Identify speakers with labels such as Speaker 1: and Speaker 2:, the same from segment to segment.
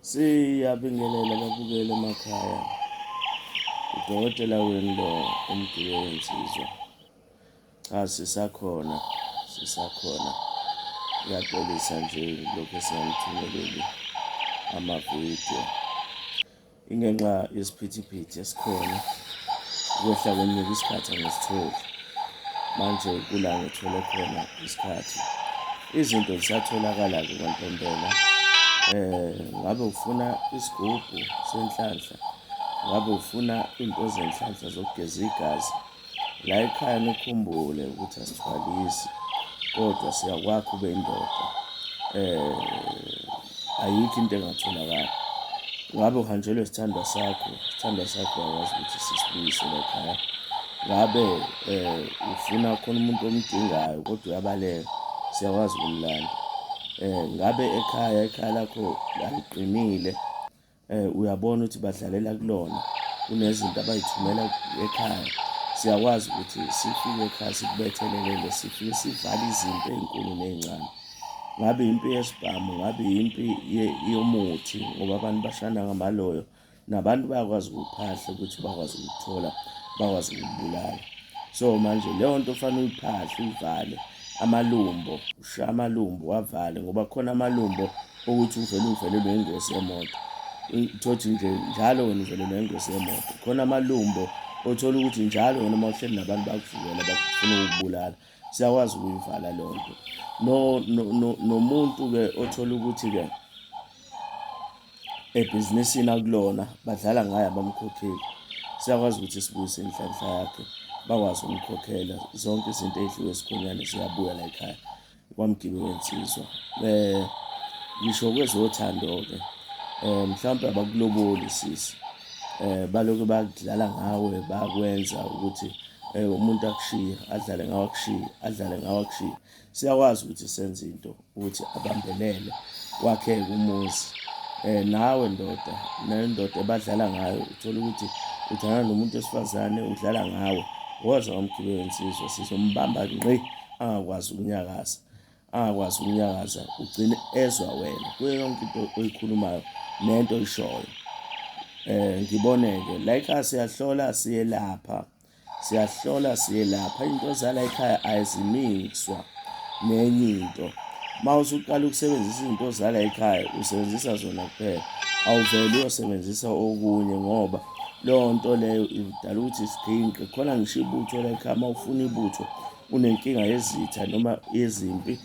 Speaker 1: Siyabingelela babukele emakhaya. Udokotela wenu lo umgibeli wensizwa. Cha sisakhona, sisakhona. Ngiyaxolisa nje lokhu esinganithumeleli amavidiyo. Ingenxa yesiphithiphithi esikhona ukwehla kwenyuka isikhathi angisitholi manje kula ngithole khona isikhathi izinto zisatholakala-ke kwantombela um ngabe ufuna isigubhu senhlanhla ngabe ufuna iy'nto zenhlanhla zokugeza igazi la ekhaya nikhumbule ukuthi asithwalisi kodwa siyakwakha ube indoda um ayikho into engatholakali ngabe uhanjelwe isithandwa sakho isithandwa sakho akwazi ukuthi sisibuyise la ekhaya ngabe um ufuna khona umuntu omdingayo kodwa uyabaleka siyakwazi ukumlanda um ngabe ekhaya ekhaya lakho aliqinile eh uyabona ukuthi badlalela kulona kunezinto abayithumela ekhaya siyakwazi ukuthi sifike ekhaya sikubethelelele sifike sivale izinto ezinkulu nezincane ngabe impi yesibhamu ngabe impi yomuthi ngoba abantu bashana ngamaloyo nabantu bayakwazi ukuphahla ukuthi bakwazi ukuthola bakwazi ukubulala so manje leyo nto fanele uyiphahle uyivale amalumbo ushaye amalumbo wavale ngoba khona amalumbo ukuthi uvele uvelelwe ingozi yemoto thothi nje njalo wena uvelelwe ingozi yemoto khona amalumbo othola ukuthi njalo wena uma uhleli nabantu bakuvukela bakufuna ukubulala siyakwazi ukuyivala leyo nto nomuntu-ke othola ukuthi-ke ebhizinisini akulona badlala ngaye abamkhokheli siyakwazi ukuthi sibuyise inhlanhla yakhe bakwazi ukumkhokhela zonke izinto ey'dliwe esikhonyane ziyabuya la ekhaya Kwamgibe wensizwa um ngisho kwezothando-ke um mhlawumpe abakuloboli sisi um baloke bakudlala ngawe bakwenza ukuthi um umuntu akushiye adlale ngawe akushiye adlale ngawe akushiye siyakwazi ukuthi senze into ukuthi abambelele kwakheke umuzi um nawe ndoda nendoda ebadlala ngayo uthole ukuthi udlala nomuntu wesifazane udlala ngawe woza wamgibe wensizwa sizombamba ngqi angakwazi ukunyakaza angakwazi ukunyakaza ugcine ezwa wena kuyo yonke into oyikhulumayo nento oyishoyo eh ngiboneke like siyahlola siyelapha siyahlola siyelapha into zala ekhaya ayizimikswa nenye into uma usuqala ukusebenzisa izinto zala ekhaya usebenzisa zona kuphela awuveli uyosebenzisa okunye ngoba leyo nto leyo idala ukuthi siginqe khona ngisho ibutho layikhama ufuna ibutho unenkinga yezitha noma yezimpi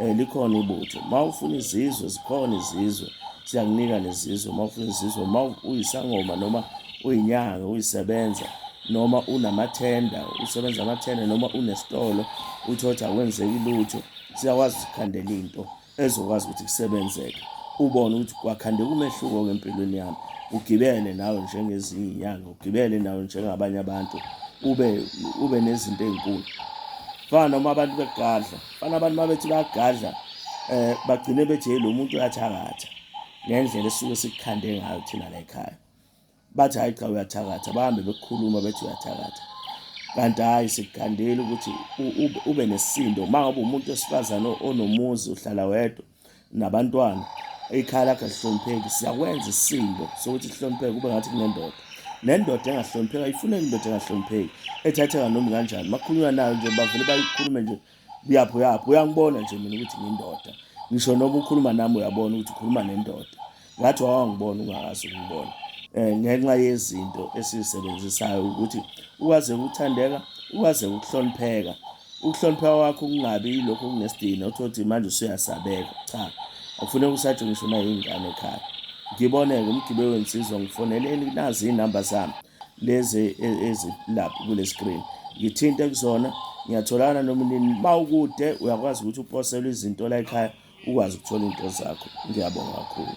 Speaker 1: um likhona ibutho ma ufuna izizwe zikhona izizwe siyakunika nezizwe ma ufuna izizwe ma uyisangoma noma uyinyanga uyisebenza noma unamathenda usebenza amathenda noma unesitolo uthi othi akwenzeki lutho siyakwazi ukukhandela into ezokwazi ukuthi kusebenzeke ubone ukuthi kwakhandeka umehluko-ke empilweni yami ugibele nawe njengezinye inyanga ugibele nawe njengabanye abantu ube ube nezinto ezinkulu fana uma abantu begadla fana abantu mabethi bayagadla eh bagcine bethi hey lo muntu uyathakatha ngendlela esuke sikukhande ngayo thina la ekhaya bathi hhayi cha uyathakatha bahambe bekukhuluma bethi uyathakatha kanti hhayi sikukhandeli ukuthi ube nesindo uma ngabe umuntu wesifazane onomuzi uhlala wedwa nabantwana ikhaya lakhe lihlonipheki siyakwenza isisindo sokuthi sihlonipheke kube ngathi kunendoda nendoda engahlonipheki ayifuneki indoda engahlonipheki ethatheka noma kanjani makhulunywa nayo nje bavele bayikhulume nje uyaphi uyaphi uyangibona nje mina ukuthi ngindoda ngisho noma ukhuluma nami uyabona ukuthi ukhuluma nendoda ngathi wawangibona ungakazi ukungibona um ngenxa yezinto esizisebenzisayo ukuthi ukwaze ukuthandeka ukwaze ukuhlonipheka ukuhlonipheka kwakho kungabi yilokho okunesidina uthi othi manje usuyasabeka cha akufuneka usatshwe ngisho nayingane ekhaya ngiboneke umgibe wensizwa ngifoneleni nazi iy'namba zami lezi ezilapha kule screen ngithinte kuzona ngiyatholana noma nini uma ukude uyakwazi ukuthi uposelwe izinto la ekhaya ukwazi ukuthola into zakho ngiyabonga kakhulu